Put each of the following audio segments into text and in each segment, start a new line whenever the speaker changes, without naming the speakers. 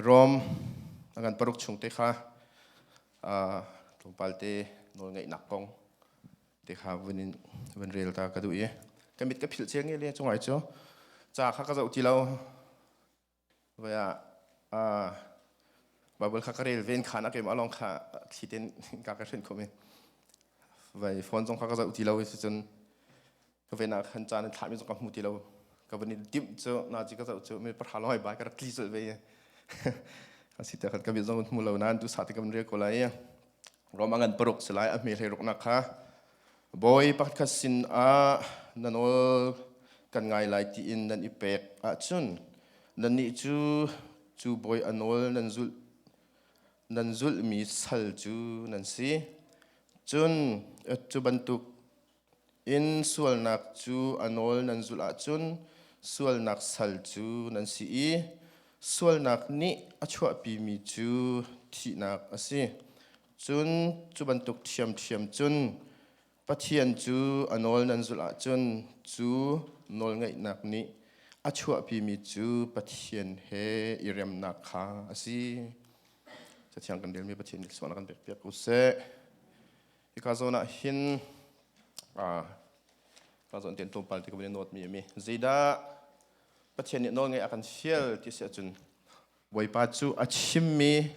Rom a kan paruk chung te kha tlawmpal te nawl ngeihnak kong te kha vun in vun rel ta ka duh i ka mit ka philh cia nge le cu ngai cu ca kha ka zoh ti lo voi ah Bible kha ka rel ven khan a keimah lawng kha thli ten ka ka hrenh kho mi voi phone zong kha ka zoh ti lo i cucun ka ven ah khan caan thlah mi zong ka hmu ti lo ka van i timh cu na chi ka zoh cu mi pahra lawai ba ka rak tli sul ve asi ta khan ka mi zong hmu lo nan tu sa ti ka van ria ko lai rom angan paruk si lai a hme hlei ruk na kha boy pakhat khat sin a nanol kan ngai lai ti in nan i pek a chun nan ni cu cu boy anol nan zul nan zul mi sal cu nan si cun cu bantuk In sualnak cu a nawl nan zulh ahcun sualnak sal cu nan si i sualnak nih a chuahpimi cu thihnak a si. Cun cu bantuk ṭhiamṭhiam cun Pathian cu a nawl nan zulh ahcun cu nawlngeihnak nih a chuahpimi cu Pathian he i remnak kha a si. Cathiang kan relmi Pathian nih sualnak kan pekpiak u sih. Hika zawn ah hin ka zawn tian tlawmpal ti ka bin not mi mi zeidah Pathian nih nawl ngai a kan fial ti si ahcun Bawipa cu a chimmi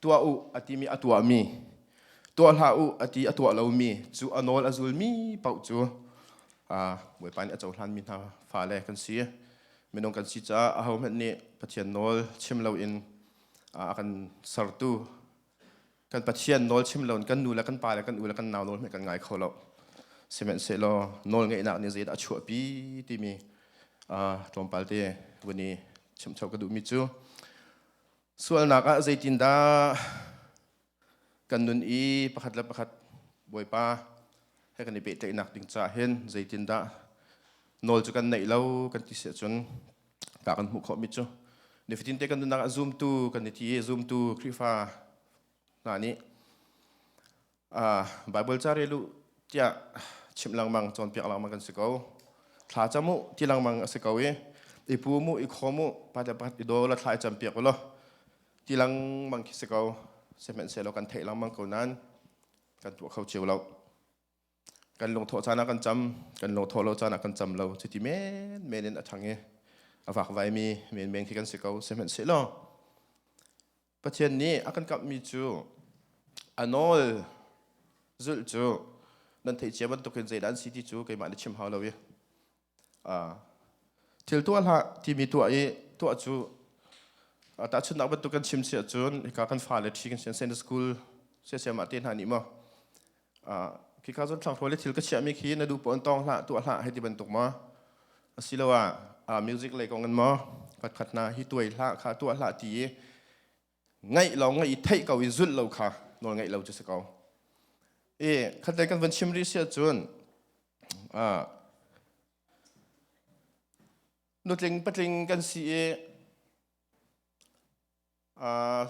tuah u a ti mi a tuah mi tuah hlah u a ti a tuah lo mi cu a nawl a zul mi pauh cu Bawipa nih a cohlan mi hna fale kan si minung kan si caah a hohmanh nih Pathian nawl chim lo in a kan sertu kan pathian nawl chim lo in kan nu le kan pa le kan u le kan nau nawl hme kan ngai kho lo sihmanhsehlaw nawl ngeihnak nih zeidah a chuahpi timi tlawmpal te vun i chimcho ka duhmi cu sualnak ah zeitindah kan nun i pakhat le pakhat bawipa he kan i pehtlaihnak ding ca hin zeitindah nawl cu kan neih lo kan ti si ahcun ta kan hmuh khawh mi cu nifatinte kan nunnak ah zumtu kan i ti i zumtu Khrihfa hna nih uh, Bible ca relu tiah chim lengmang cawnpiak lengmang kan si ko thla camu ti lengmang a si ko i i pu mu i kho mu pate pat i do la thlai cam piak lo ti lengmang khi si ko sehmen se lo kan theih lengmang ko nan kan tuah kho cheu lo kan lungthawh caan ah kan cam kan lungthawh lo caan ah kan cam lo cuti men men in a thang i a vakvai mi men men khi kan si ko sihmanhsehlaw Pathian nih a kan kamhmi cu a nawl zulh cu nan theih cia bantukin zeidah an si ti cu keimah nih chim hau lo i thil tuah hlah timi tuah i tuah cu tahchunhnak bantuk kan chim si ahcun hika kan fale ṭhi kan si sende school siasiamah te hna nih maw khika cun thlanghrawl i thil ka chiahmi khi na duh pawn tawng hlah tuah hlah hei ti bantuk maw asiloah music lei kong in maw khatkhat hna hi tuai hlah kha tuah hlah ti i ngaih lo ngaih i theih ko i zulh lo kha nawl ngaih lo cu si ko i khatlei kan vun chim rih si ahcun nutling patling kan si i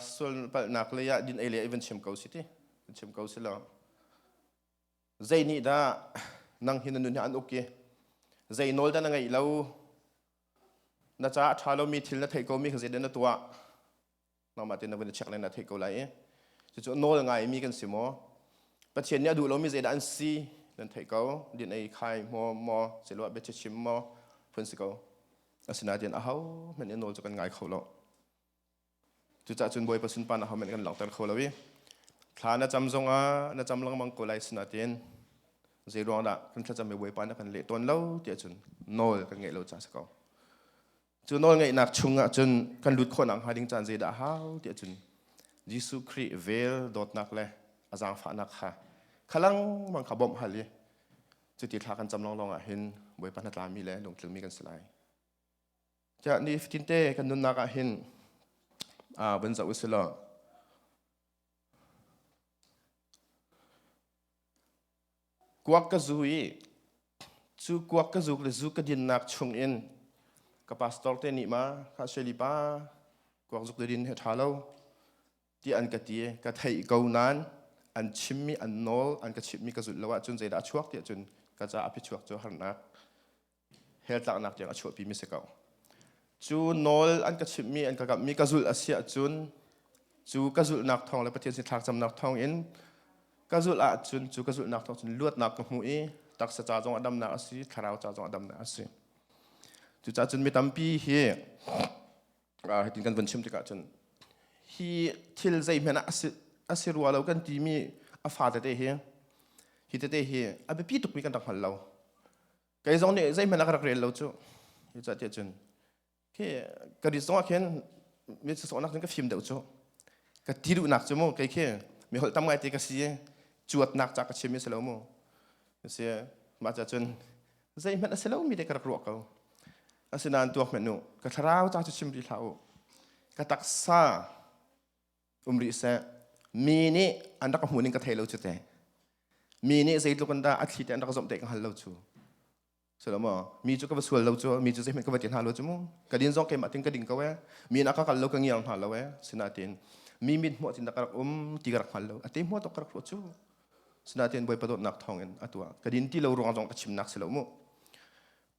sual palhnak lei ah din ei le i vun chim ko si ti vun chim ko si lo zei nih dah nang hi na nun hi an uk i zei nawl dah na ngeih lo Na caah a ṭha lomi thil na theih komi kha zeidah na tuah? Nangmah tein na vun i check le na theih ko lai i cucu nawl ngaimi kan si maw? Pathian nih a duh lomi zeidah an si nan theih ko. Din ei khai maw maw siloah biachim maw phun si ko. Asinain ahohmanh nih nawl cu kan ngai kho lo. Cucah cun Bawipa sunpan ahohmanh kan langhter kho lo i thla na cam zongah na cam lengmang ko lai sinain zeiruangdah kan thlacam i Bawipa na kan leh tawn lo tiah cun nawl kan ngeih lo ca a si ko. Cu nawl ngeihnak chungah cun kan lut khawhnak hnga ding caan zeidah a hau tiah cun Jesuh Khrih vel dawtnak le a zaangfahnak kha kha lengmang kha bawmh hal i cuti thla kan cam lawnglawng ah hin Bawipa hnatlami le lungtlumi kan si lai. Tiah ni fatinte kan nunnak ah hin uh, vun zoh usih law. Kuak ka zu i cu kuak ka zuk le zu ka dinnak chung in ka pastor te nih ma kha sueli pa kuak zuk le din he tha lo ti an ka ti ka thei ko nan an chim mi an nawl an ka chimh mi ka zulh lo ah cun zeidah a chuak ti cun ka ca a phi chuak cu harnak heltlaknak tiang a chuahpi mi si ko cu nawl an ka chimh mi an ka kamh mi ka zulh a si ahcun cu ka zulhnak thawng le Pathian sin thlakcamnak thawng in ka zulh ahcun cu ka zulhnak thawng cun luatnak ka hmuh i taksa ca zong a damnak a si thlarau ca zong a damnak a si cucaah cun mi tampi hi hitin kan vun chim tikah cun hi thil zeihmanh ah a si rua lo kan ti mi a fa tete hi hi tete hi a biapi tuk mi kan rak hngal lo kei zong nih zeihmanh a ka rak rel lo cu hi ca tiah cun khi ka rit zongah khin mi sawhnak cun ka fim deuh cu ka ti duhnak cu mu kei khi mi holh tam ngai te ka si i cuatnak ca ka chimmi si lo mu si mah ca cun zeihmanh a si lomi te ka rak ruah ko asinain tuak hmanh u ka thlarau ca cu chim rih hlah u ka taksa um rih seh mi nih an rak hmuh ning ka thei lo cu te mi nih zeitluk in dah a thli te an rak zomh te ka hngal lo cu sulo maw mi cu ka va sual lo cu mi cu zeihmanh ka va ti hna lo cu mu ka din zong keimah tin ka ding ko e mi nak ka kal lo ka ngiang hna lo e sinatin mi mit hmuh tin da ka rak um ti ka rak hngal lo a te hmuh tok ka rak hruh cu sinatin bawi padawtnak thawngin a tuah ka din ti lo ruang zong ka chim nak si lo mu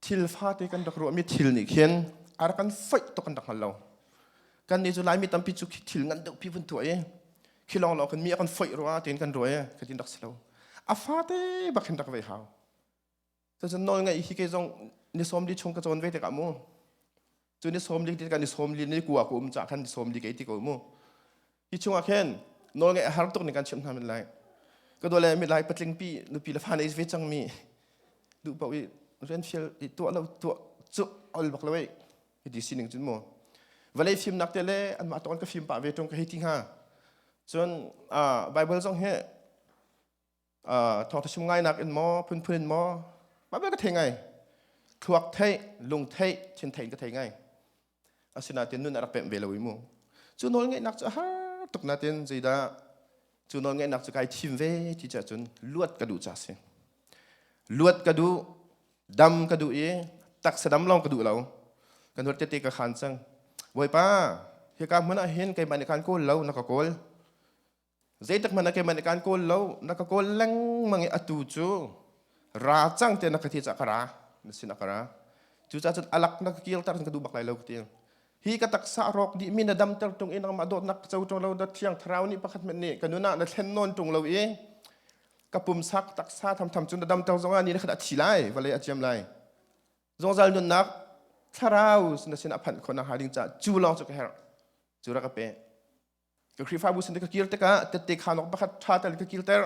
thil fate kan rak ruah mi thil nih khin ar kan foih tuk kan rak hngal lo kan nih cu laimi tampi cu thil ngan deuh pi vun tuah i khi long long kan mi kan foih rua tin kan ruai ka tin rak si lo a fate bak hin rak ve hau ta cun nawl ngaih hi ke zong ni som di chung ka chawn ve te ka mu cu ni som dik kan ni som li ni ku a ku um cha khan som li ke ti ko mu hi chungah khen nol ngai har tuk ni kan chim hna min lai ka do le mi lai patling pi nupi la fa nei ve chang mi du pa wi ren fiel i tu lo tu chu ol bak loi hi di sining chun mo valei phim nak te le an ma ton ka phim pa ve tong ka hi ti ha chun a bible zong he thawngthasum ngainak in maw phunphun in maw mabel ka thei ngai thluak thei lung thei thin thei ka thei ngai asinain nun a rak pem ve lo i mu cu nawl ngaihnak cu har tuk natin zeidah cu nawl ngaihnak cu kai thim ve ti cah cun luat ka duh ca si luat ka duh dam ka duh i taksa dam lawng ka duh lo kan huat tete ka khan cang bawipa hi ka hmun ah hin keimah nih khan kawl lo na ka kawl Zeitak man keman i kan kawl lo na ka kawl lengmang i atu cu ra cang te na ka thi ca ka ra na sin a ka ra cucacun alak na ka kilter ka duh bak lai lo ka ti hi ka taksa rawk dih mi na dam ter tung i nangmah dawtnak ka co tung lo na thiang thlarau nih pakhat hmet nih ka nun ah na thlen nawn tung lo i ka pumsak taksa thamtham cu na dam ter zong ah ni na khat a thi lai vale a ciam lai zongzal nunnak thlarau na sin a phanh khon a ha ding ca cu lawng cu ka herh cu ra ka pe Ka Khrihfabu sin ka kir tikah tette khanawk pakhat ṭha tel ka kirter.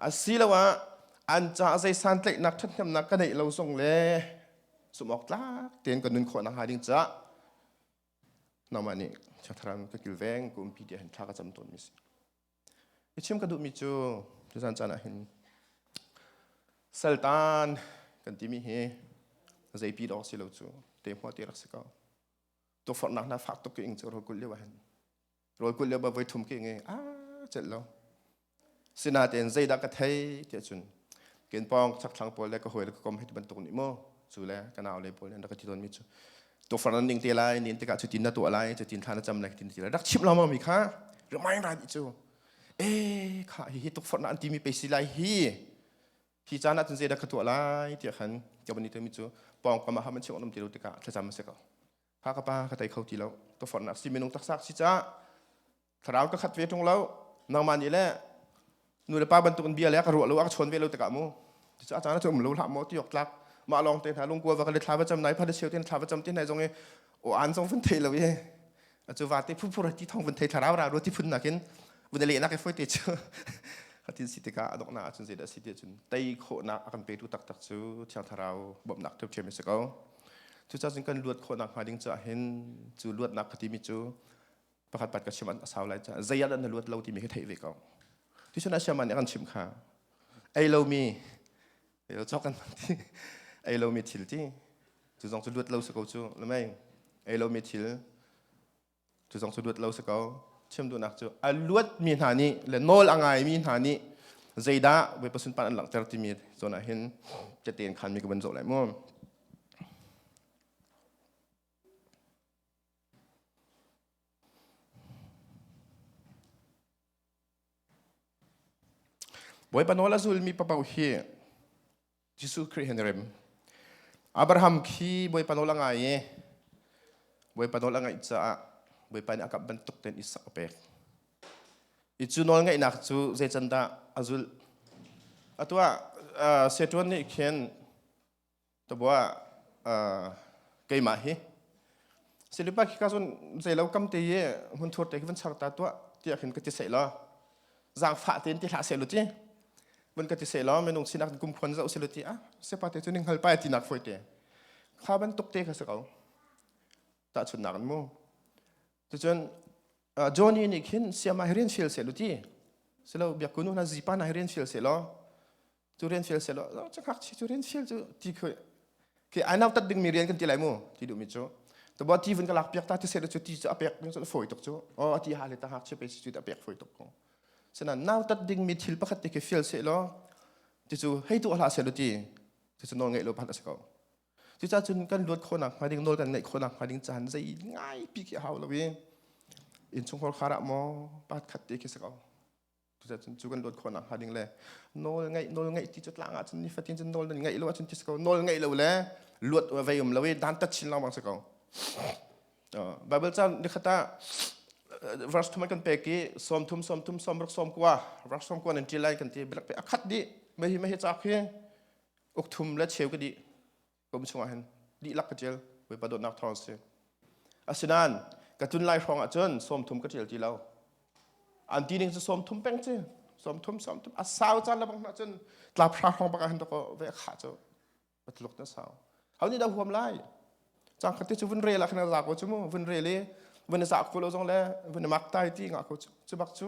Asiloah an caah zei santlaihnak ṭhathnemnak ka neih lo zong le zumhawktlak tein ka nun khawhnak hnga ding caah nangmah nih Chiatharam ka kilveng kumpi ti hin thla ka cam tawnmi si. I chim ka duhmi cu tuzan caan ah hin saltan kan timi hi zeipi dawk si lo cu te hmuah ti rak si ko. tukforhnak hna fak tuk ing cu rawlkulh lio ahin rawlkulh lio ba voi thum ke nge a chet lo sinatein zeidah ka thei tiah cun ken pong chakthlang pawl le ka hoil ka kom hei bantuk ni mo cu le ka nau le pawl le ka ti don mi chu tukforh nan ning te lai nin tikah cu tin na tuah lai cu tin thla na cham lai tin ti lai rak chim lo ma mi kha remind ra ni cu e kha hi hi tukforh nan ti mi pe si lai hi Hi caan ah cun zeidah ka tuah lai tiah khan ka van i ṭemi cu pawngkam ah ham an cheuh an um ti lo tikah thlacam a si ko. Kha ka pa ka tei kho ti lo. Ka forhnak si minung taksak si caah thlarau ka khat ve ṭung lo. Nangmah nih le nu le pa bantukin bia le ka ruah lo a ka chawn ve lo tikah mu. Ticu a caan ah cu um lo hlah maw ti awk tlak. Mah lawng te hna lungkua va ka le thla va cam nai pha le cheu te thla va cam te nai zong i o an zong van thei lo i acu vate phunphur ti thong vun thei thlarau ra ro ti phun nakin vun le nak e foi te chu khatin si tika adok na achun zeda si te chun tai kho na akan petu tak tak chu thiang tharau bom nak thep chem se ko chu cha chun kan luat kho nak ma ding cha hin chu luat nak khati mi chu pakhat pat ka chiman asau lai cha zayal an luat lo ti mi he thei ve ko tu chuna shaman kan chim kha ei lo mi Eo chok kan ti ei lomi thil ti tu zong cu luat lo si ko cu lamai ei lomi thil tu zong cu luat lo si ko chim duhnak cu a luat mi hna nih le nawl a ngai mi hna nih zeidah voi pasun pan an langhter timi zon ah hin tetein khan mi ka ban zo lai mu Bawipa nawl a zulmi papoh hi Jesuh Khrih hen rem. Abraham khi Bawipa nawl a ngai i Bawipa nawl a ngaih caah Bawipa nih a kamh bantuk ten Isak a pek. I cu nawl ngaihnak cu zei can dah a zulh? Atu ah uh, Setuan nih khin Tabuah keimah hi silipat khi ka cun zeilo kamte i hmunthur te khi van char ta tuah tiah khin ka ti seh law zaangfah tein ti hlah seh law ti van ka ti seh law minung sinak in kumkhuan zoh seh law ti ah sepate cu ning hngalpai ati nak fawite kha bantuk te kha si ko tahchunnak in mu tucun Johnny nih khin siama hi rian fial seh law ti silo biakunu hna zipa hna hi rian fial seh law cu rian fel selaw cakak chi cu rian fel cu ti khoi ke ai nau tat ding mi rian kan ti lai mu ti duh mi cu to bo ti vun ka lak piak ta ti se chu ti chu apek mi chu foi tuk chu o ti ha le ta hak chi pe chi ta pek foi tuk ko sena nau tat ding mi thil pakhat te ke fel se lo ti chu hei tu hla se lo ti ti chu no ngai lo pan se ko ti cha chun kan luat kho nak ma ding nol kan nei kho nak ma ding chan zai ngai pi ke hau lo in in chung hor khara mo pat khat te ke se ko Tuchan cu kan luat khawh nak hnga ding le nawl ngeih nawl ngeih ti cu tlang ahcun nifatin cun nawl nan ngeih lo ahcun ti si ko nawl ngeih lo le luat vei um lo i dantat chin lawng bang si ko Bible chan nikhata verse thum kan pek i som thum som thum som ruk som kwa verse som kwa nan til lai kan ti bilak pe akhat di me hi me hi chak hi uk thum le cheu ka di kum chungah hin dihlak ka ṭial Bawipa dawtnak thawng si. Asinain ka tlun lai hrawngah cun sawmthum ka ṭial ti lo. An ti ning cu sawmthum peng ci, sawmthum sawmthum a sau caan lebang hna cun tlap hra hrawng bak ah hin dok ve kha cu patluk na sau. Hau nih da huam lai. Cang khati cu vun rel ah khin za ko cu mu vun rel i vun i za ko lo zong le vun i mak tai ti nga ko cu. Cu bak cu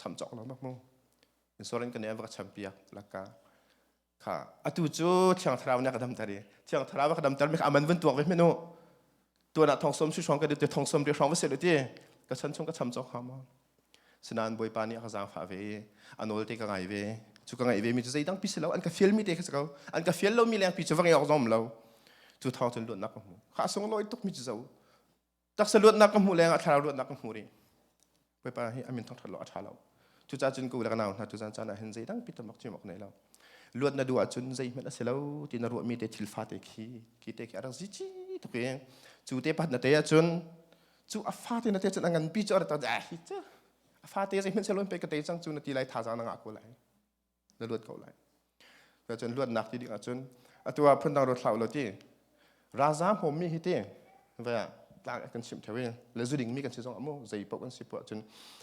cham cawk lo mak mu insurance kan va ka cham piak laka kha atu cu thiang thlarau nih ka dam ter i thiang thlarau ka dam ter mi kha aman vun tuak ve menu tuana thongsom su shong ka du te thongsom te shong va se lo ti ka chan chung ka cham cawk ha ma sinan boy pa ni ka zang fa ve anol te ka ngai ve chu ka ngai ve mi chu zeidang pi selo an ka fiel mi te ka sa an ka fiel lo mi leng pi chu va ngi ok zom lo chu thong chun luan nak mu kha song loi tuk mi chu zo taksa luatnak ka hmuh leng ah thlarau luatnak ka hmu rih bawipa hi amin thongthat lo a tha lo cucah cun ku le nau hna tuzan caan ah hin zeidang pi tamok chim ok nei lo luat na duh ahcun zeihmanh a si lo ti na ruahmi te thil fa te khi ki te khi arang zi chi tuk i cu te pat na te ahcun cu a fa te na te cun a ngan pi cu arata ah hi cha a fa te zeihmanh se loin pe ka te cang cu na ti lai thazang na ngah ko lai na luat ko lai. Cun luatnak ti ding ahcun atu ah phundang ruat hlah ulaw ti raza hmawmmi hi ti ve tlak kan chim theo i le zu dingmi kan si zong amu zei paoh kan si puah cun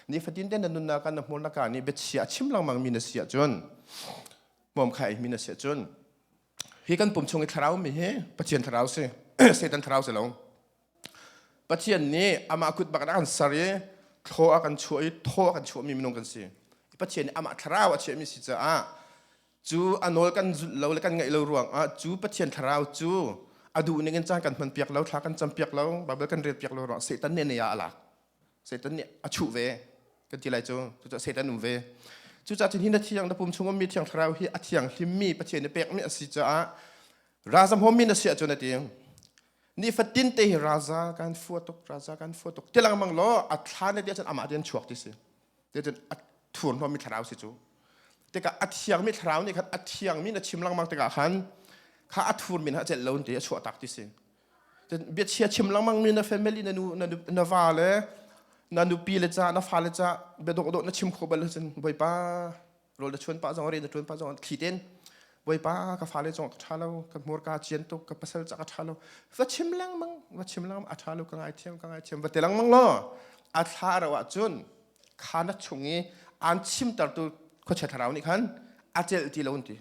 ni fatin den na nunnak kan na hmur na ka ni biachia chim langmang mi na si ahcun mom khai mi na si ahcun hi kan pum chung i thlarau mi hi pathian thlarau si satan thlarau si lo Pathian nih amah kut bak in a kan ser i thlaw a kan chuah i thaw a kan chuahmi minung kan si. Pathian nih amah thlarau a chiahmi si caah cu a nawl kan zulh lo le kan ngaih lo ruangah cu Pathian thlarau cu a duh ning in caan kan hman piak lo, thla kan cam piak lo, Baibal kan rel piak lo ruangah Satan nih a nei ah a lak. Satan nih a chuh ve kan ti lai cu. Cucaah Satan um ve. Cucaah cun hi na thiang na pum chung ummi thiang thlarau hi a thianghlimmi Pathian i pekmi a si caah ralzam hawmmi na si ahcun a ti. ni fatin te hi raza kan fua tuk raza kan fua tuk ti lang mang lo a thla ne dia chan amah rian chuak ti si te chan a thur no mi thlarau si chu te ka a thiang mi thlarau ni khan a thiang mi na chim lang mang te ka khan kha a thur min ha chet lo te a chuah tak ti si te bia chia chim lang mang mi na family na nu na va le na nupi le cha na fa le cha bedok do na chim kho bal chan boipa rol na chuan pa zong ri na chuan pa zong khi ten boipa ka fale chong ka tha lo ka mur ka chian tuk ka pasal chak a tha lo va chim lang mang va chim lang a tha lo ka ngai thiam ka ngai thiam va telang mang lo a thla ro ah chun khana chung i an chim tar tu kho che tharau ni khan a cel ti lo ti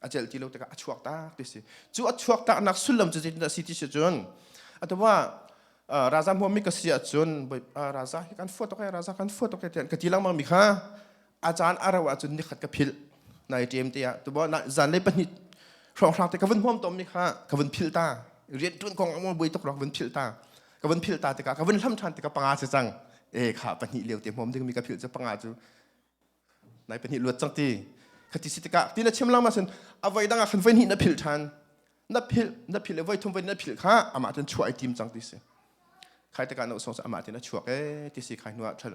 a celh ti lo tikah a chuak tak ti si cu a chuak taknak sullam cu zeitin dah si ti si cun atawma raza hmuami ka si ahcun raza hi kan fuat ok raza kan fuat ok tian ka ti lengmang mi kha a caan a ro ahcun ni khat ka philh nai ṭem te ah tubo zan lei pahnih hrawng hrang te ka vun huam tom mi kha ka vun phil ta rian ṭun kong a buai tuk ro ka vun phil ta ka vun phil ta tikah ka vun hlam ṭhan tikah panga si cang e kha pahnih leo te huam ding mi ka phil cu panga cu nai pahnih luat cang ti khati si tikah ti na chim lang ma sen avoi dang ah khan voi hnih na phil than na phil na phil le voi thum voi na phil kha amah ten chuah ai tim cang ti si khai taka na usong sa amah ten na chuak e ti si khai nuwa thal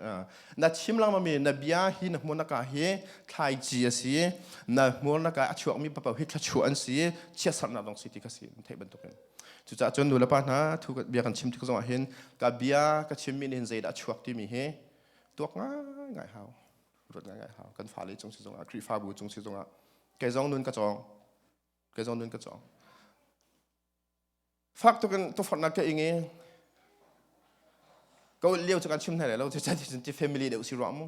na chim lang ma mi na bia hi na hmun ka hi thlai ji a si na hmur na ka a chuak mi papa hi thla chu an si chia sar na dong si ti ka si thei bantuk in cuca cun nulapa hna thu bia kan chim tik zong ah hin ka bia ka chim mi nin zeidah chuak ti mi hi tuak ngaingai hau ruat ngaingai hau kan fa le chung si zongah khrihfabu chung si zongah kei zong nun ka cawng kei zong nun ka cawng fak tuk in tufornak ke ingi ko liu chu kan chim nai lo ti cha ti ti family de usi ro mu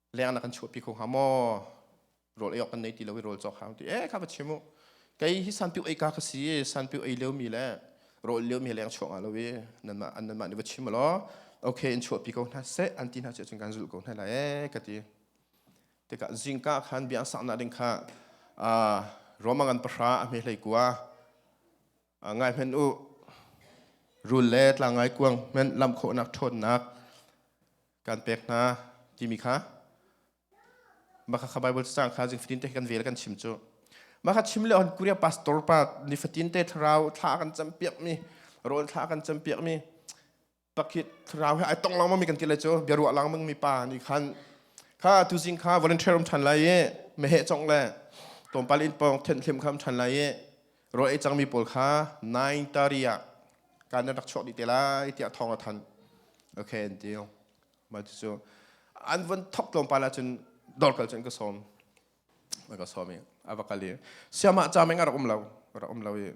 leng na kan chuahpi kho hnga maw rawl ei awk kan nei ti lo i rawl cawk hang ti eh kha va chim u kei hi sanpiu ei ka ka si sanpiu ei liomi le rawl liomi leng chuah nga lo i nanmah an nanmah nih va chim law okay in chuahpi ko hna seh an ti hna cu cun kan zulh ko hna la eh ka ti tikah zingka khan biang saknak ding kha uh, roma ngan pahra a hme hlei kua ngai hmen u rul le tlangai kuang hmen lam khawhnak ṭhawnnak kan pek hna timi kha maka kha bible sang kha jing fatin te kan vel kan chim cu maka chim le on kuria pastor pa ni fatin te thlarau thla kan cam piak mi rawl thla kan cam piak mi pakit thlarau he ai tong lengmang mi kan ti lai cu bia ruah lengmang mi pa nih khan kha tu zing kha volunteer um ṭhan lai i meheh cong le tlawmpal in pawng thenh hlim kham ṭhan lai i rawl ei cangmi pawl kha nine thirty ah kan nan rak chuak dih te lai tiah thawng a thanh okay an deal mai tu cu an von thok tlawmpal ahcun dorkal cun ka sawm ka sawm i a va kal i siamah cha meng a rak um lo rak um lo i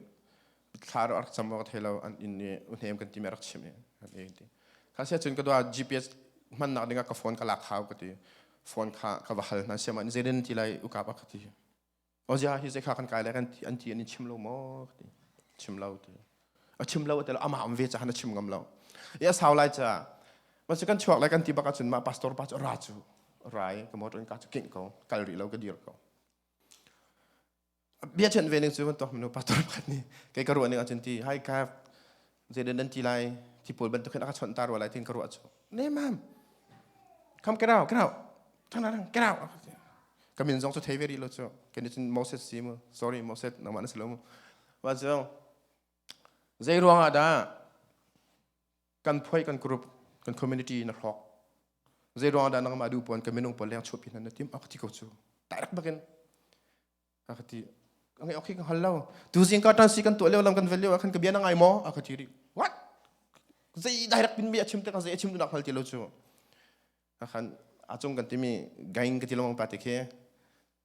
thla rak cam ka thei lo an inn i uhnem kan ti me rak chim i an e ti kha si cun ka dua GPS hman nak ding ka phone ka lak hau ka ti phone kha ka va hal hna siam an zerin ti lai uka pa ka ti o ja hi ze kha kan kai lai kan ti an ti an chim lo mo ka ti chim lo ti a chim lo te lo ama am ve cha han chim ngam lo ya sau lai cha ma se kan chuak lai kan ti baka chun ma pastor pa chu ra chu rai ka motor ka chu king ko kal ri lo ka dir ko bia chen ve ning cu kan tuah minu pastor pakhat nih kei ka ruah ning ahcun ti hai ka zeidan dan ti lai ti pawl bantuk khin aka chawnh ta rua lai tin ka ruah cu ne mam come get out get out turn around get out ka min zong cu thei ve rih lo cu ke nih cun Moses si mu sorry Moses nangmah na si lo mu wa zong zei ruang ah dah kan phuai kan group kan community na hrok zei ruang dah nangmah duh puan kan minung pawl leng chupi hna na tim a ti ko cu direct bakin a ka ti ngai ok kan hal lo tu zing ka tan si kan to leo lam kan value khan ka bia na ngai mo a ka ti ri what zei direct pin bi a chim te ka zei a chim tu nak hal ti lo chu a khan a chung kan timi gain ka ti long pa te khe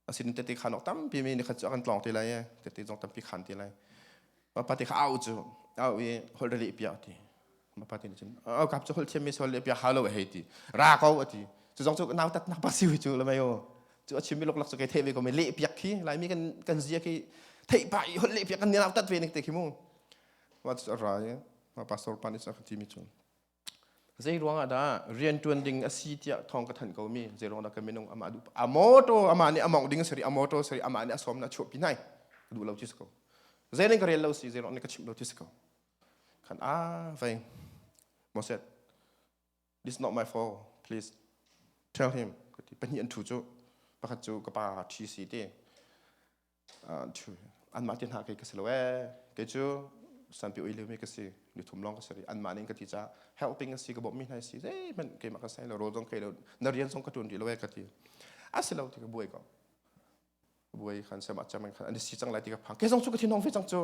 asin tete khan ok tampi mi ni khat chu akan tlong te lai tete zong tampi khan te lai ma pa te kha au chu au i hol rali pia ti ma pa te ni cun au kap chu hol thiam mi sol le pia halo hei ti ra ko ati chu zong chu nau tat na pa siu chu le mai o chu a chim mi lok lak chu ke the ve ko me le piak khi lai mi kan kan zia khi thei pa i hol le piak kan ni nau tat ve nik te khi mu ma chu ra ma pastor pani sa khati mi chun Zeiruang ah dah rianṭuan ding a si tiah thawng ka thanh komi zeiruang dah ka minung amah duh a motor amah nih a mawngh ding a si a motor seri amah nih a sawm na chuah pi nai ka duh lo ti si ko zeining ka rel lo si zeiruang nih ka chimh lo ti si ko khan ah veng mo said this is not my fault please tell him ka ti pahnih an ṭhu cu pakhat cu ka pa ṭhi si ti anmah te hna kei ka si lo ee kei cu sanpi ui lemi ka si ni thum lawng ka si rih anmah ning ka ti ca help ping a si ka bawm mi hna si zeihmanh keimah ka sai lo rawl zong kei lo na rian zong ka tuan rih lo ee ka ti a si lo ti ka buai ko buai khan sem a cham khan ani si cang lai ti ka phang kei zong cu ka thinong ve cang cu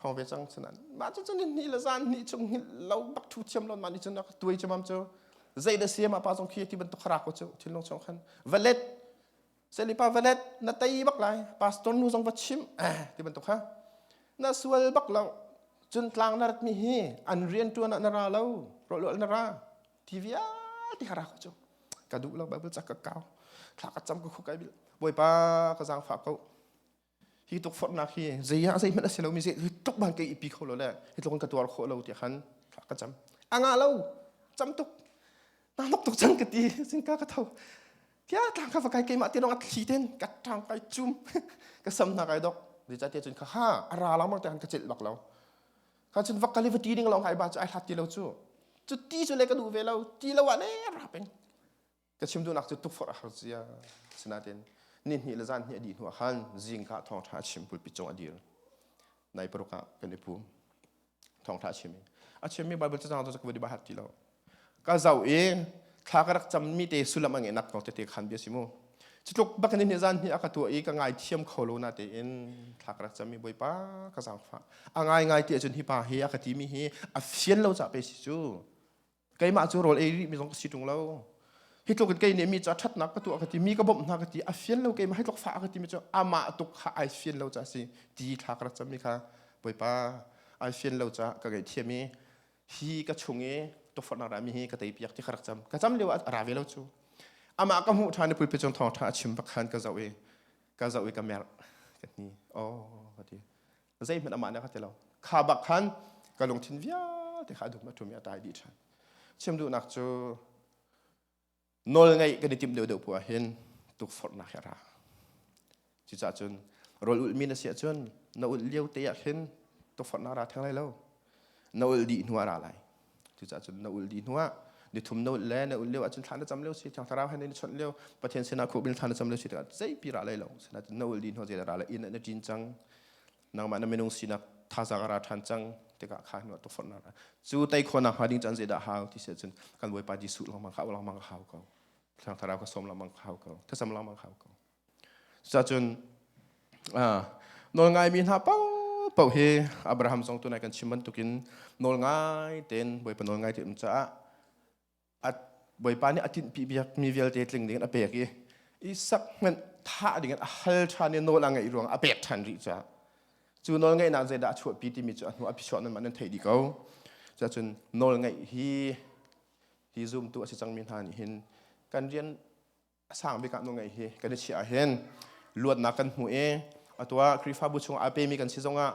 khong ve cang chunan ma cu cun ni le zan ni chung hil lo bak thu thiam lon ma ni cun tuai chu mam chu zei da siam apa zong khi ti bantuk khara ko chu thin long chong khan valet selipa valet na tai bak lai pastor nu zong va chim eh ti bantuk ha na sual bak lo cun tlang na rat mi hi an rian tuan na ra lo ro lo na ra tv al ti khara ko chu ka du lo bible chak ka kau thla ka cham ko khu kai bil boy pa ka zang fa ko hi tukforhnak hi zeiah zeihmanh a si lomi zei tuk ban ke ipi kho lo le hi tluk in ka tuar khawh lo tiah khan ka cam anga lo cam tuk na nok tuk cang ka ti singka ka tho tia tlang kha va kai keimah te dong a thli ten ka tang kai chum ka sam na kai dok di cha te cun kha ha ara lang mang te han ka chil bak lo kha cun vakali va ti ding long hai ba chu ai hlat ti lo chu chu ti chu le ka du ve lo ti lo a le ra peng ka chim duhnak cu tukforh a har cia sinain nihnih le zan hi a dih hnu ah khan zingka thawngtha a chim pulpi cung a dir nai paruk ah kan i pum thawngtha a chim i a chimmi bible cacang tu sakwe di bahar ti lo ka zau i thla ka rak cammi te sullam a ngenak ko tete khan bia si mu cutluk bakin ni zan hi aka tua i ka ngai thiam kho lo na te in thla ka rak cammi boipa ka zang fa a ngai ngai te cun hi pa hi aka ti mi hi a fian lo ca pe si cu keimah cu rawl ei rih mi zong ka si ṭung lo hi tluk in kei nih mi cu a ṭhatnak ka tuah ka ti mi ka bawmh hna ka ti a fian lo keimah hi tluk fah ka ti mi cu amah tuk kha ai fian lo ca si ti thla ka rat cam mi kha bawipa ai fian lo ca ka ngaihthiam i hi ka chung i tuffar na ra mi hi ka tei piak ti ka rak cam ka cam lio ah ra ve lo cu amah ka hmuh ṭhan i pulpi cung thawng ṭha a chim bak khan ka zoh i ka zoh i ka mer ka ni oh ka ti zeihmanh amah nih a ka ti lo kha bak khan ka lungthin vialte kha a dum a ṭum i a tai dih ṭhan chim duhnak cu nawl ngeih kan i timh deuhdeuh puah hin tukforhnak hi a ra cucahcun rawl ulhmi na si ahcun na ulh lio te ah hin tukforhnak ra theng lai lo na ul dih hnu ah ra lai cucaah cun na ul dih hnu ah ni thum na ul le na ul lio ahcun thla na cam lio si thiang thlarau he na chawnh lio pathian sinah khawh in thla na cam lio si tikah zeipi ra lai lo sinain na ul dih hnu zei ra lai inn na ṭin cang nangmah na minung sinak thazang a ra ṭhan cang tikah kha hnu tu forh na ra cu tei khawnak hnga ding can zeidah hau ti se cun kan bawipa jesuh lengmang kha lengmang ka hau ko thiang thlarau ka som lengmang ka hau ko thasam lengmang ka hau ko Cucun nawlngaimi hna paohpaoh hi Abraham zong tunai kan chim bantukin nawlngai tein Bawipa nawlngai tein um caah Bawipa nih a tinhpi mi vialte tling dingin a pek i Isak hmanh thah dingin a hal ṭhan i nawl a ngeih ruang a pek ṭhan rih caah cu nawlngaihnak zeidah a chuahpi timi cu a hnu a phichuak nan mah nan theih dih ko cucun nawlngaih hi hi zumtu a si cangmi hna nih hin kan rian a sang bik ah nu ngei hi kan i chiah ah hin luatnak kan hmu i atu ah Khrihfabu chung aa pemi kan si zongah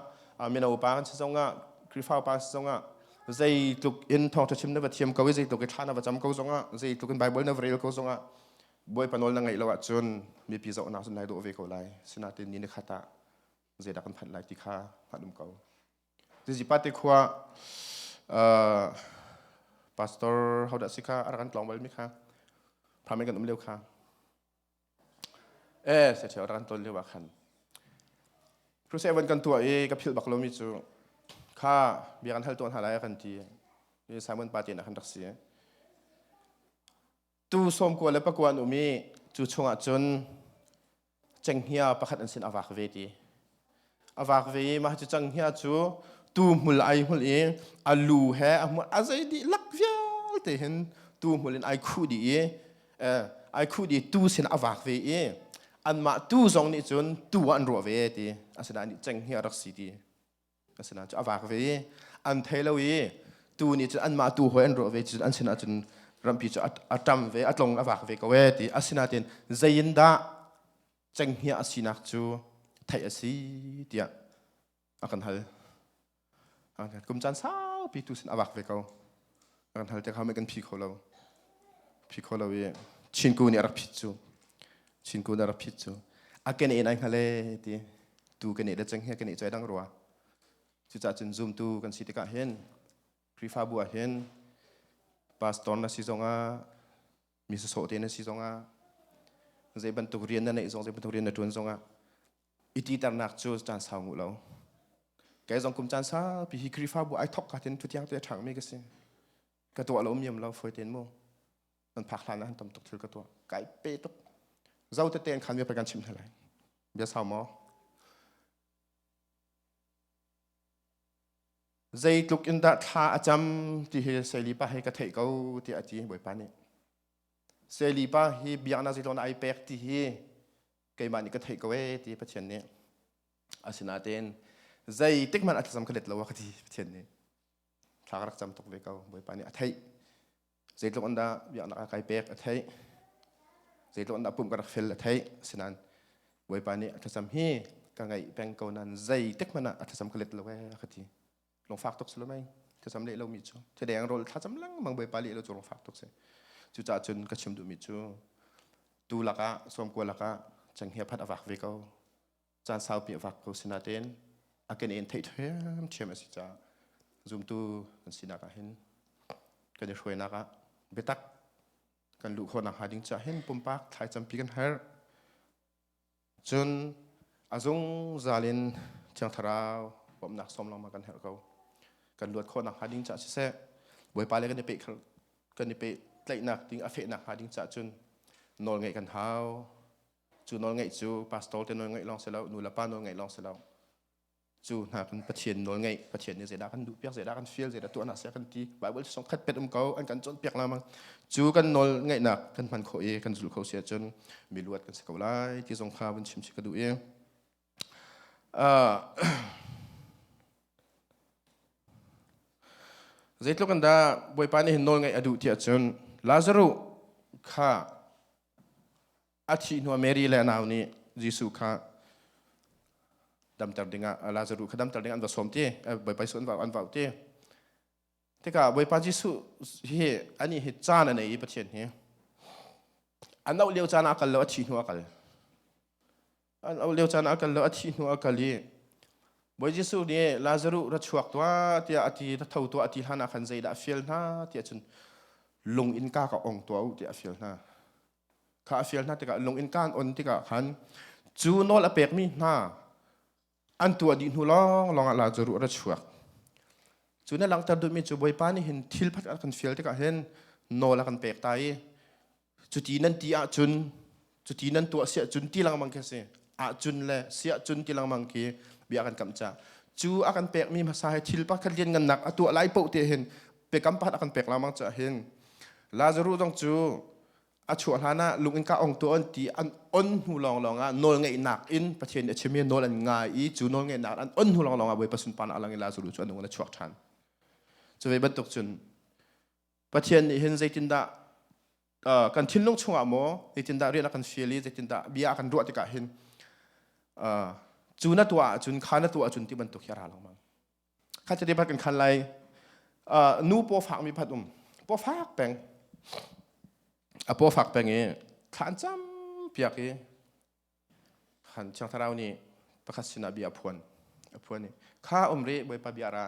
mino pa kan si zongah Khrihfa pa si zongah zeitluk in thawngṭha chim na va thiam ko i zeitluk i thla na va cam ko zongah zeitluk in Baibal na va rel ko zongah bawipa nawl na ngaih lo ahcun mipi zohnak cun nai dawh ve ko lai sinain ni ni khat ah zeidah kan phanh lai ti kha hngalh um ko Zizipate khua uh, pastor how dah si kha a kan tlong bal mi kha phame kan um leu kha eh se theu ran ton leu wa khan Crusade seven kan tua i ka phil bak lo mi chu kha bia kan hal tuan ha lai kan ti ni Simon Pate na kan rak si tu sawmkua le pakua an um i cu chungah cun cenghngia pakhat an sin a vak ve ti a vak ve i mah cu cenghngia cu tu hmul ai hmul i a lu he a hmul a zei dihlak vialte hin tu hmul in ai khuh dih i eh, ai khuh dih tu sin a vak ve i anmah tu zong nih cun tu ah an ruah ve ti asinain cenghngia rak si ti asina cu avak ve i an thei lo i tu ni cun anmah tu hoi an ruah ve cun an sinah cun rampi cu atam ve atlong avak ve ko e ti asinain zeiin dah cenghngia asinak cu theih asi tiah akan hal kum caan saupi tu sin avak ve ko kan hal tiah kan phi kho lo phi kho lo i chinku nih a rak phit cu chinku nih a rak phit cu a kan en ai ngale ti tu kan e le cheng he kan e choi dang rua cucah cun zoom tu kan si tikah hin Krifabu ah hin pastor na si zongah mi sasawh te na si zongah zei bantuk rian na neih zong zei bantuk rian na ṭuan zongah i titernak cu caan sau nguh lo kei zong kum caan saupi hi Khrihfabu ai thok ka tin thutiang te a ṭhangmi ka si ka tuah lo miam lo foi ten mu nan phak hlan han tam tuk thil ka tuah kai pe tuk zo te ten khan bia pe kan chim hna lai bia sau maw zeitluk in dah thla a cam ti hi seilipa he ka theih ko tiah a ti bawipa nih seilipa hi biaknak zeitlawng dah ai pek ti hi keimah nih ka theih ko ee ti Pathian nih asinain zeitik hmanh a thlacam ka let lo a ka ti Pathian nih thla ka rak cam tuk ve ko bawipa nih a theih zeitluk in dah biaknak a kai pek a theih zeitluk in dah pumh ka rak fel a theih asinan bawipa nih a thlacam hi ka ngaih peng ko nan zeitik hmanh ah a thlacam ka let lo ee ka ti lung fak tuk si lo mei thlacam leh lo mi cu thideng rol thlacam lengmang bawipa leh lo cu lung fak tuk si cucah cun ka chim duhmi cu tu lakah sawmkua lakah changhia phat a vak ve ko caan saupi a vak ko si natein a kan en thei ṭhiamṭhiam a si caah zumtu kan sinak ah hin kan i hruainak ah biatak kan luh khawhnak hnga ding caah hin pumpak thlaicampi kan herh cun a zungzal in thiang thlarau bawmhnak sawm lawng ma kan herh ko kan luat khawhnak hnga ding caah siseh bawipa le kan i pe kan i pe tlaihnak ding a fehnak hnga ding caah cun nawl ngeih kan hau cu nawlngeih cu pastor te nawlngeih lawng si lo nu le pa nawlngeih lawng si lo cu hna kan pathian nawlngeih pathian nih zeidah kan duh piak zeidah kan feel zeidah tuahnak sia kan ti bible song khat pet um ko an kan cawnpiak lamang cu kan nawl ngaihnak kan hman khawh i kan zul kho si ahcun mi luat kan si ko lai ti zong kha vun chim si ka duh i Zeitluk in dah Bawipa nih hin nawl ngaih a duh ti ahcun Lazaruh kha a thih hnuah Mary le a nau nih Jesuh kha damter dingah Lazaruh kha damter dingah an va sawm ti Bawipa Jesuh an va an vau ti tikah Bawipa Jesuh hi anih hi caan a nei i Pathian hi a noh lio caan ah a kal lo a thih hnu a kal an ol lio caan ah kal lo a thih hnu a kal i Bawi Jesuh nih Lazaruh ra chuak tuah tiah a ti ra tho tuah a ti hlan ah khan zeidah a fial hna tiah cun lung in ka ka ong tuah u tiah a fial hna kha a fial hna tikah lung in kaan on tikah khan cu nawl a pekmi hna an tuah dih hnu lawng lawng ah Lazaruh ra chuak cu ne langhter duhmi cu Bawipa nih hin thil phat a kan fial tikah hin nawl a kan pek ta i cuti nan ti ahcun cuti nan tuah si ahcun ti lengmang khi si ahcun le si ahcun ti lengmang khi bia kan kam ca cu a kan pekmi hmasa hi thil pakhat lianngannak a tuah lai poh te hin pekam pat a kan pek lengmang ca hin Lazaru zong cu a chuah hlan ah lung in ka ong tuan ti an on hnu lawng lawng ah nawl ngeihnak in pathian nih a chim i nawl an ngai i cu nawl ngeihnak an on hnu lawng lawng ah bawipa sunparnak a lang i Lazaru cu a nung in a chuak ṭhan cu ve bantuk cun Pathian nih hin zeitindah kan thinlung chungah maw zeitindah rian a kan fial i zeitindah bia a kan ruah tikah hin cu na tuah ahcun kha na tuah ahcun ti bantuk hi a ra lengmang kha chati pat kan khan lai nu paw fakmi phat um paw fak peng a paw fak peng i thlan cam piak i Thiang Thlarau nih pakhat sinah bia a phuan. A phuan i, kha um rih Bawipa bia ra.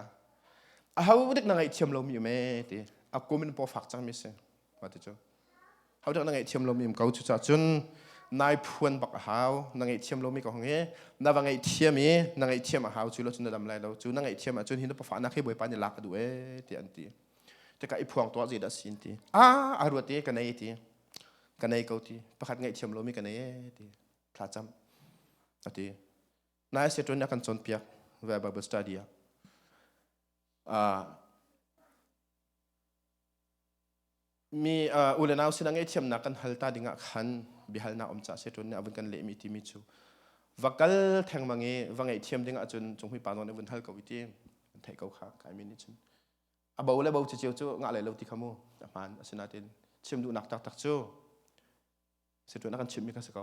A ho dik na ngaihthiam lomi um ee ti. A kum in paw fak cangmi si. Ma ti cu. Ho dik na ngaihthiam lomi um ko cucah cun nai phuan bak a hau. Na ngaihthiam lomi ko hong i, na va ngaihthiam i, na ngaihthiam a hau cu lo cun na dam lai lo. Cu na ngaihthiam ahcun hi na pafahnak hi Bawipa nih lak a duh ee ti an ti. Tika i phuang tuah zei dah si an ti. A, a ruat i ka nei ti. ka nei ko ti pakhat ngaihthiam lomi ka nei e ti thlacam ati na se ton kan chon piak ve bible study a mi ule nau sinang e thiamnak kan halta dingah khan bihalna om cha se ton ne avun kan le mi ti mi chu vakal theng mangi va ngei thiam dingah chun chung hui pa non avun hal ko iti thei ko kha kai mi ni chun a bo le bo ciceo cu ngah lai lo ti kha mu a hmaan asinain chim duhnak taktak cu si tu na kan chimmi kha si ko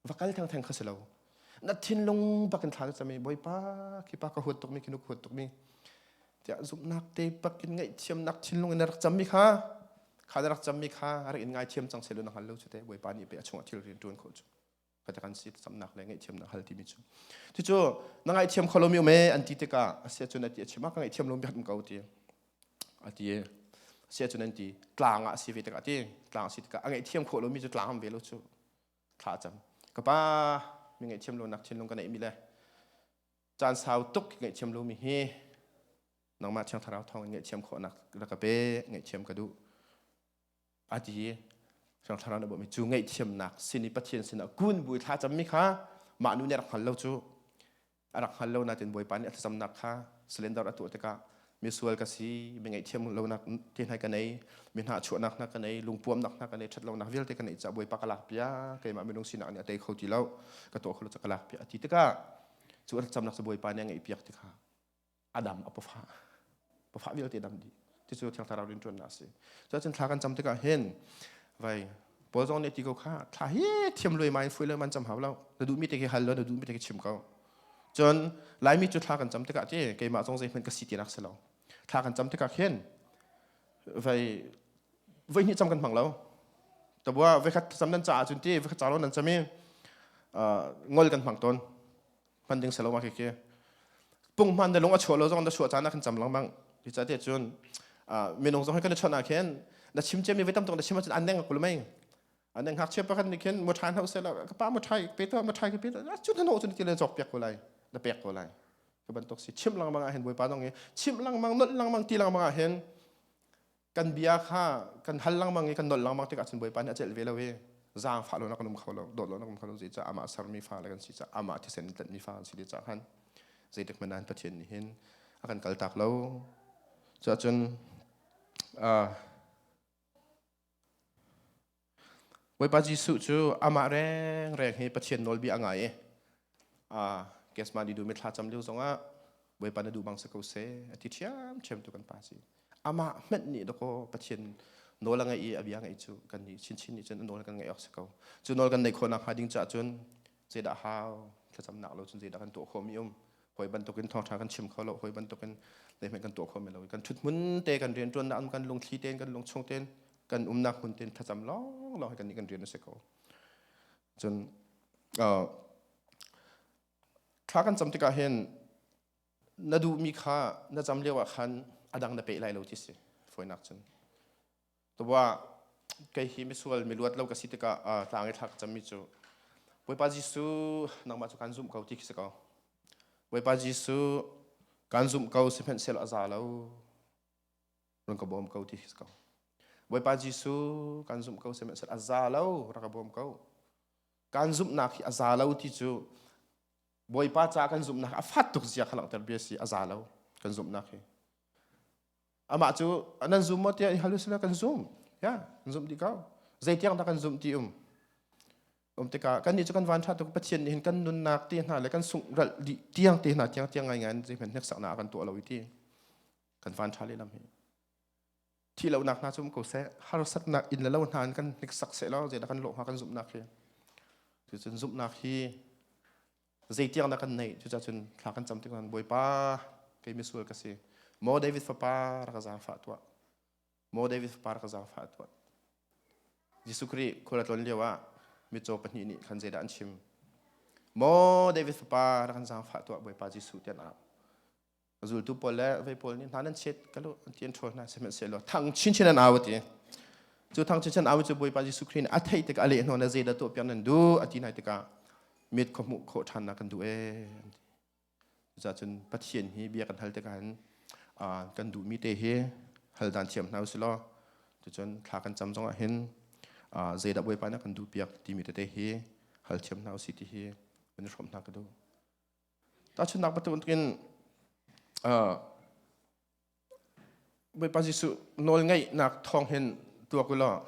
va kal thengtheng kha si lo na thinlung bak in thla ka cami bawipa khi pa ka huat tukmi khi nuk huat tukmi tiah zumhnak te bak in ngaihthiamnak thinlung in na rak cammi kha kha na rak cammi kha rak in ngaithiam cang selu na hngal lo cu te bawipa nih pe a chungah thil rian ṭuan khawh cu kan si samnak le ngaihthiamnak hal timi cu cucu na ngaihthiam kho lomi me an ti tikah asia cun ati achim ka ngaihthiam lomi hat ko ti ati asia cun an ti tlang ah si ve tikah ti tlang si tikah a ngaihthiam kho lomi cu tlang ve lo cu thla cam ka pa mi ngaihthiam lo nak thin lung ka nei mi le caan sau tuk ngaihthiam lomi hi nangmah thiang thlarau thawng in ngaihthiam khawhnak la ka pe ngaihthiam ka duh ati sang thlarau na mi cu ngeih thiamnak sin i pathian sinah kun bui thla mi kha mah nu nih rak hngal lo cu rak hngal lo natin bawipa nih a thlacamnak kha slender a tuah tikah misual ka si mi ngeih thiam lo nak ti nai ka nei mi hna chuahnak na ka nei lungpuamnak na ka nei ṭhat lonak vialte ka nei ca bawipa ka lak pia keimah minung sinak nih a tei kho ti lo ka tuah kho lo ca ka lak pia a ti tikah cu a thlacamnak sa bawipa nih a ngeih piak tikha adam a pafa pafa vialte dam di ti cu thiang thlarau rin tuan asi so chin thla kan cham tikah hen vai paul zong ne ti ko kha thla hi thiam loi mai foi loi man cham hau lo na du mi te ke hal lo na du mi te ke chim ko chon lai mi chu thla kan cham tikah che keima zong zei hman ka si ti rak selo thla kan cham tikah hen vai vai ni cham kan hmang lo ta bua vai khat cham nan cha chun ti vai khat cha lo nan chami ngol kan hmang ton hman ding selawa ke ke pungman de lung a chua lo zong da chua chana kan cham lang mang ti cha te chun minung zong kan chona khen na chim che mi vetam tong da chim chun an deng kul mai an deng hak che pakan ni khen muthai hau se la ka pa muthai pe to muthai ke pe chun hano chun ti le chok pek ko lai da pek ko lai ka ban tok si chim lang manga hen boi pa dong e chim lang mang not lang mang ti lang manga hen kan bia kha kan hal lengmang i kan nol lengmang tikah cun bawipa nih a celh ve lo i zaangfah lonak kan um kho lo dawt lonak um kho lo zeicah amah a sermi fa le kan si caah amah thisen tlanhmi fa an si ti caah khan zeitik hmanh ah pathian nih hin a kan kaltak lo cuah cun uh, Bawipa Jesuh cu amah rengreng hi Pathian nawlbia a ngai i kesman i du mithla cam lio zongah Bawipa na duh bang si ko seh a ti ṭhiamṭhiam tu kan pa si amah hmanh nih dakaw Pathian nawl a ngeih i a bia ngeih cu kan nih chinchin nih cun nawl kan ngeih awk si ko cu nawl kan neih khawh nakhnga ding caah cun zeidah hau thlacamnak lo cun zeidah kan tuah khawhmi um hawi bantukin thawngṭha kan chim kho lo hawi bantukin zeihmanh kan tuah khawh men lo kan ṭhuthmun te kan rianṭuannak um kan lungthli tein kan lungchung tein kan umnak hmun tein thlacam lawng lawng kan i kan rian a si ko cun thla kan cam tikah hin na duhmi kha na cam lio ah khan a dang na peh lai lo ti si fawinak cun Tuah kei hi misual mi luat lo ka si tikah uh, tlang i thlak cami cu Bawipa Jesuh nangmah cu kan zumh ko ti khi si ko Bawipa Jesuh kan zumh ko sihmanhsehlaw a za lo run ka bawm ko ti khi si ko Bawipa Jesuh kan zumh ko sihmanhsehlaw a za lo rak ka bawm ko kan zumhnak hi a za lo ti cu Bawipa ca kan zumhnak a fat tuk zia kha langhter bia si a za lo kan zumhnak hi amah cu nan zum maw tiah hal sila kan zum ya kan zum ti ko zeitiang dah kan zum ti um um tikah kannih cu kan van ṭha tuk pathian nih hin kan nunnak te hna le kan sungh ralh dih tiang te hna tiang tiang ngai ngai an zeiman hnek saknak kan tuah lo i ti kan van ṭha lehlam hi thi lonak hna cu um ko seh harsatnak in le lo hna in kan hnek sak seh law zeidah kan lawh hnga kan zumhnak hi cucun zumhnak hi zeitiang dah kan neih cucah cun thla kan cam tik bawipa kei misual ka si maw david fapa rak ka zaangfah tuah maw david fapa rak ka zaangfah tuah jesuh khrih khual a tlon lio ah mitcaw pahnih nih khan zeidah an chim maw david fapa rak kan zaangfah tuah bawipa jesuh tiah zultu pawl le vei pawl nih hna nan chet ka lu ti an ṭhawl hna sihmanhsehlaw thang chinchin an au ti cu thang chinchin au cu Bawipa Jesuh Khrih nih a theih tikah a leh hnawn le zeidah tuah piak nan duh a ti nai tikah mit kho hmuh khawh ṭhan nak kan duh ee an ti cucahcun Pathian hi bia kan hal tikah hin kan duhmi te hi hal dan thiam hna usih law tucun thla kan cam zongah hin zeidah Bawipa nih kan duh piak timi tete hi hal thiam hna usih ti hi kan i hrawm hna ka duh Tahchunhnak bantukin uh, Bawipa Jesuh nawlngeihnak thawng hin tuak u law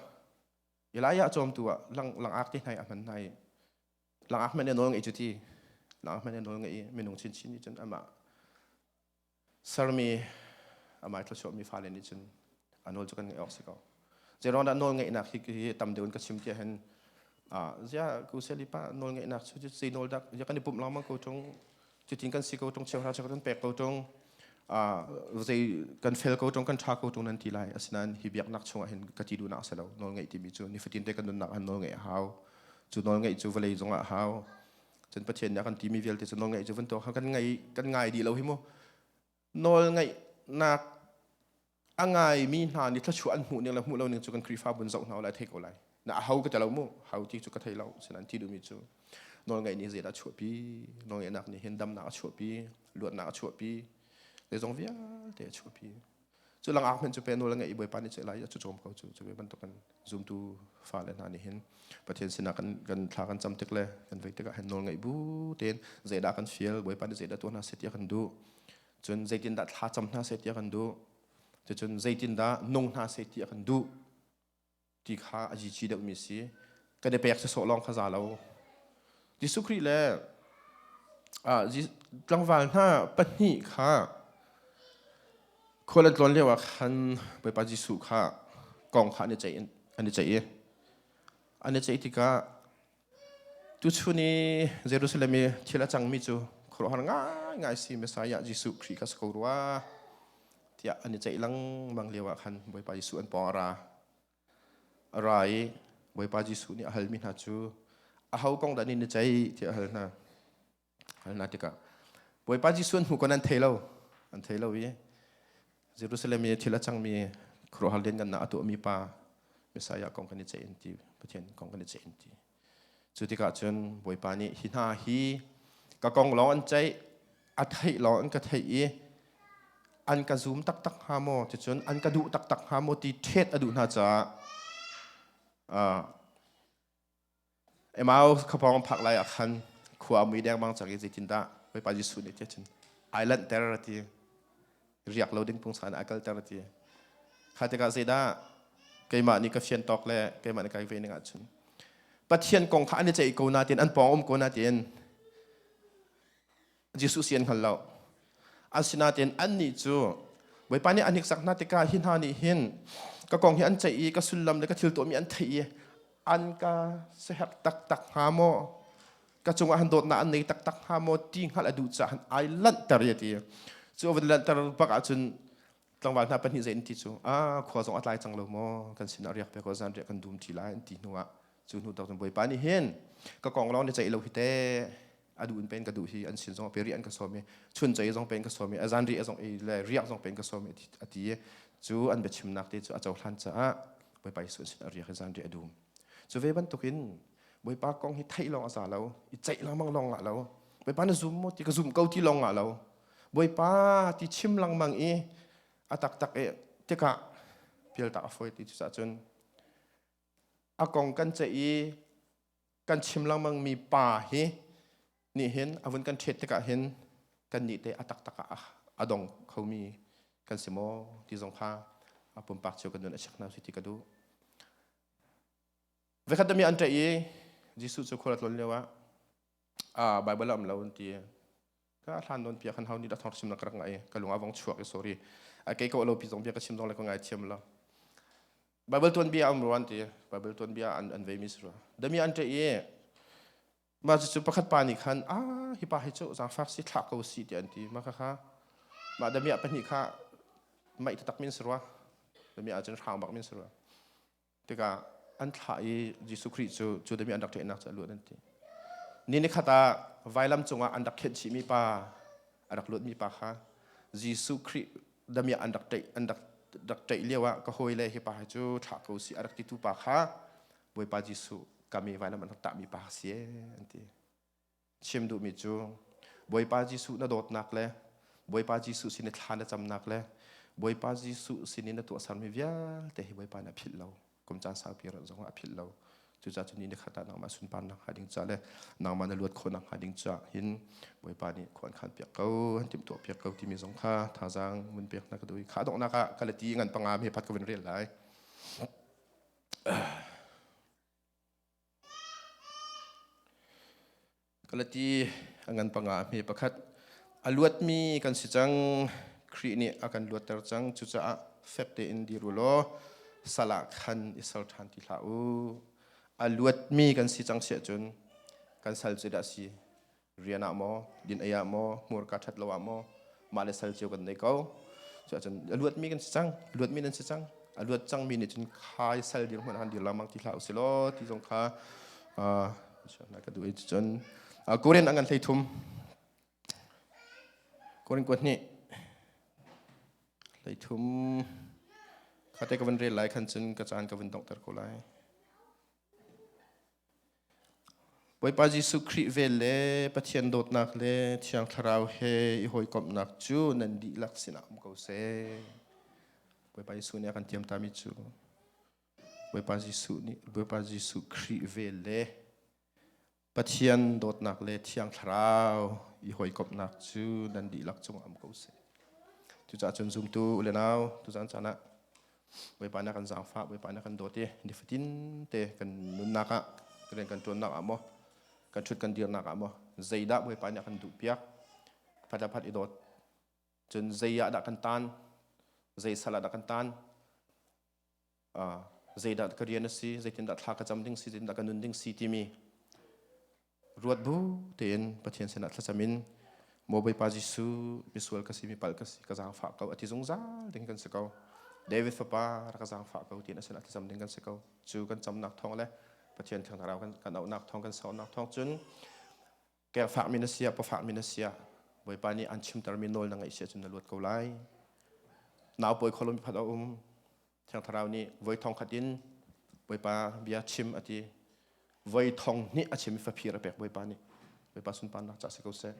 Elijah cawm tu ah lang langak ti hnai a hman hnai langak men e nawl ngei cu ti langak men e nawl ngei i minung chin chin nih cun amah sermi amah thluachuahmi fale nih cun a nawl cu kan ngaih awk si ko zeiruang dah nawl ngeihnak hi hi tam deuh in ka chim tiah hin ziah ku selipa nawl ngeihnak cu zei nawl dak ya kan i pumh lengmang ko ṭung cutin kan si ko ṭung cheu hna cheu kan pek ko ṭung zei kan fel ko ṭung kan ṭha ko ṭung nan ti lai asinain hi biaknak chungah hin ka ti duhnak a si lo nawl ngeih timi cu nifatin te kan nunnak ah nawl ngeih a hau cu nawl ngeih cu vawlei zungah a hau cun pathian nih a kan timi vialte cu nawlngaih cu vantuak kan ngai kan ngai dih lo hi mu nawl ngaihnak a ngaimi hna nih thluachuah an hmuh ning le hmuh lo ning cu kan khrihfabu in zoh hna lai thei ko lai na a hau ka te lo mu hau ti cu ka thei lo sinan ti duhmi cu nawlngaih nih zeidah a chuahpi nawlngaihnak nih hin damnak a chuahpi luatnak a chuahpi zeizong vialte a chuahpi cu langak men cu pe no le ngai bawi pa ni lai ya chu chom ko chu chu be bantuk kan zumtu fa le na ni hin pathian sina kan kan thla kan cham tik le kan vei tik han nol ngai bu ten zai da kan feel bawi pa ni zai da tu na se tia kan du chun zeitin da thla cham na se tia kan du chun zeitin da nong na se tia kan du ti kha a cici deuhmi a si. Kan i pek sawsawh lawng kha za lo. Jesuh Khrih le ah, tlangval hna pahnih kha khual an tlawn lioah khan Bawipa Jesuh kha kong kha an i ceih an i ceih i an i ceih tikah Tuchun i Jerusalem i thil a cangmi cu khuaruahhar ngaingai si Messiah Jesuh Khrih kha si ko rua tiah an i ceih lengmang lio ah khan Bawipa Jesuh an pawng a ra. A ra i Bawipa Jesuh nih a halmi hna cu aho kong dah nih na ceih tiah a hal hna. Halna tikah Bawipa Jesuh an hmu kon an thei lo an thei lo i Jerusalem i thil a cangmi khuaruahhar liangannak a tuahmi pa Messiah kong kan i ceih in ti Pathian kong kan i ceih in ti cu tikah cun Bawipa nih hi hna hi ka kong lawng an ceih a theih lawng an ka theih i an ka zum taktak hnga maw ticun an ka duh taktak hnga maw ti ṭhet a duh hna caah Emmaus khapawng phak lai ah khan khua a mui dengmang cang i zeitindah Bawipa Jesuh nih tiah cun ai lanhter a ti riak lo ding pungsa in ai kalter a ti kha tikah zeidah keimah nih ka fian tawk le keimah nih ka ve ning ahcun Pathian kong kha an i ceih ko natin an pawng um ko natin Jesuh si an hngal lo. Asinain annih cu Bawipa nih a hniksak hna tikah hi hna nih hin ka kong hi an ceih i ka sullam le ka thil tuahmi an theih i an ka seherh taktak hnga maw? Ka cungah han dawtnak an nei taktak hnga maw ti hngalh a duh caah han ai lanhter i ti. Cu a van lanhter bak ahcun tlangval hna pahnih zei an ti cu ah khua zong a tlai cang lo maw kan sinah riak pe ko zan riak kan dum ti lai an ti hnuah cu hnu tawk cun Bawipa nih hin ka kong lawng na ceih lo hi teh a duh in pen ka duh hi an sin zong pe ri an ka som i chun cei zong pen ka som i azan ri zong le riak zong pen ka som i a ti cu an biachimnak te cu a cohlan caah bawipa Yesu sin a riak i zan ri a dum cu ve bantukin bawipa kong hi theih lawng a za lo i ceih lengmang lawng ngah lo bawipa na zum maw ti ka zum ko ti lawng ngah lo bawipa ti chim lengmang i a taktak e tikah pial tak a fawi ti cucah cun a kong kan ceih i kan chim lengmang mi pa hi nih hin avun kan ṭhet tikah hin kan nih te a taktak ah a dong kho mi kan si maw ti zong kha a pumpak cio kan nun a check hna ti ka duh vekhat dami an ṭe i jesuh cu khuarat lon lio ah a bible am lo an ti ka hlan don pia khan hau ni da thor sim na krak ngai ka lunga vong chuak sorry a ke ko lo pi zong bia ka sim dong le ko ngai thiam la bible tuan bia am ruan ti bible tuan bia an an ve mi sura dami an te ye ma chu pakhat pa ni khan a hi pa hi chu zang fak si thla ko si ti an ti ma kha kha ma dami a pahni kha mai ta tak min surwa dami a chen hraung bak min surwa tikah an thlah i Jesuh Khrih cu cu dami an rak ṭehnak cu a luat an ti. Ni ni khat ah vailam cungah an rak khenh chihmi pa a rak luatmi pa kha Jesuh Khrih dami ah an rak ṭaih an rak rak ṭaih lio ah ka hawile hi pa hi cu thlah ko si a rak titu pa kha Bawipa Jesuh kami vailam an rak tahmi pa a si ee an ti. chim duhmi cu Bawipa Jesuh na dawtnak le Bawipa Jesuh sin i thla na camnak le Bawipa Jesuh sin i na tuahsermi vialte hi Bawipa nih a philh lo kum caan saupi zongah a philh lo cucaah cun ni ni khat ah nangmah sunparnak hnga ding caah le nangmah na luat khawhnak hnga ding caah hin Bawipa nih khua an khan piak ko an timtuah piak ko timi zong kha thazaang vun pek na ka duh i kha donghnak ah ka le ti ngan pangam he phat ka vun rel lai Kalati a ngan panga mi pakhat. A luatmi kan si cang. Khrih nih a kan luatter cang. Cucaah fek tein dir u law sal ah khan i sal ṭhan ti hlah u. A luatmi kan si cang si ahcun kan sal cu dah si? rian ah maw din ei ah maw hmur ka ṭhat lo ah maw mah le sal cio kan nei ko cuah cun a luatmi kan si cang luatmi nan si cang a luat cangmi nih cun khai sal dir hmanh han dir lamang ti hlah usih law ti zong kha na ka duh i cun Korean angan hlei thum Korean kuat hnih hlei thum kha te ka van rel lai khan cun ka caan ka van dongter ko lai Bawipa Jesuh Khrih vel le Pathian dawtnak le Thiang Thlarau he i hawikomhnak cu nan dihlak sinah um ko seh. Bawipa Jesuh nih a kan tiam tami cu Bawipa Jesuh nih Bawipa Jesuh Khrih vel le Pathian dawtnak le thiang thlarau i hawikomhnak cu nan dihlak cung am ko seh. Cucaah cun zumtu le nau tuzan caan ah Bawipa na kan zaangfah, Bawipa na kan dawt i nifatin te kan nunnak ah, kan rian kan ṭuannak ah maw, kan ṭhut kan dirnak ah maw, zeidah Bawipa nih a kan duhpiak, phat le phat i dawt. Cun zei ah dah kan tan, zei sal ah dah kan tan, zeidah ka rian a si zeitindah thla ka cam ding si zeitindah ka nun ding si timi ruat bu tein pathian sinah thlacam in maw bawipa jesuh misual ka si mi pal ka si ka zaangfah ko ati zungzal ding kan si ko david fapa rak ka zaangfah ko tiin a sinah thlacam ding kan si ko cu kan camnak thawng le pathian thang thlarau kan kan auhnak thawng kan saunak thawng cun Kek fakmi na siah pafakmi na siah Bawipa nih an chimtermi nawl na ngaih siah cun na luat ko lai. Nau pawi kholum phat a um. Thiang Thlarau nih voi thong khat in Bawipa bia chim a ti. Voi thong hnih a chimmi faphir a pek Bawipa nih. Bawipa sunparnak ca si ko seh.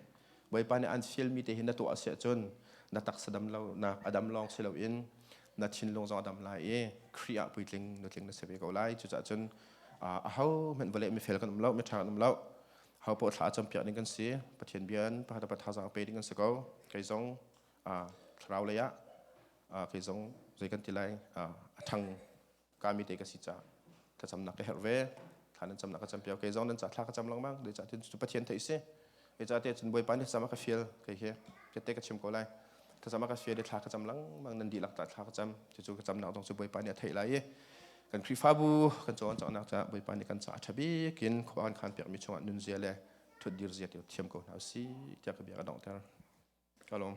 Bawipa nih an fialmi te hi na tuah siah cun na taksa dam lo, na a dam lawng si loin na thinlung zong a dam lai i Khrih ah puitling nutling na si ve ko lai. Cucahcun a hohmanh vale mifel kan um lo, miṭha kan um lo. Harpaw thla campiak ding kan si. Pathian bia in pahata thazaang pe ding kan si ko. Kei zong uh, thlarau lei ah uh, kei zong zei kan ti lai uh, a thang kami te ka si ca ka camnak ka herh ve kha nan camnak ka campiau kei zong nan ca thla ka cam langmang de ca tin cu pathian thei si e ca te cun boi pa ni sama ka fiel kei he ke te ka chim ko lai ka sama ka fiel de thla ka cam langmang nan di lak ta thla ka cam cu cu ka cam nak dong cu boi pa ni a thei lai i kan khrihfabu kan cawn cawknak caah Bawipa nih kan ca a ṭha bik in khua kan khan piakmi chungah nunzia le thutdir zia tu thiam ko hna usih tiah ka bia ka donghter ka lawm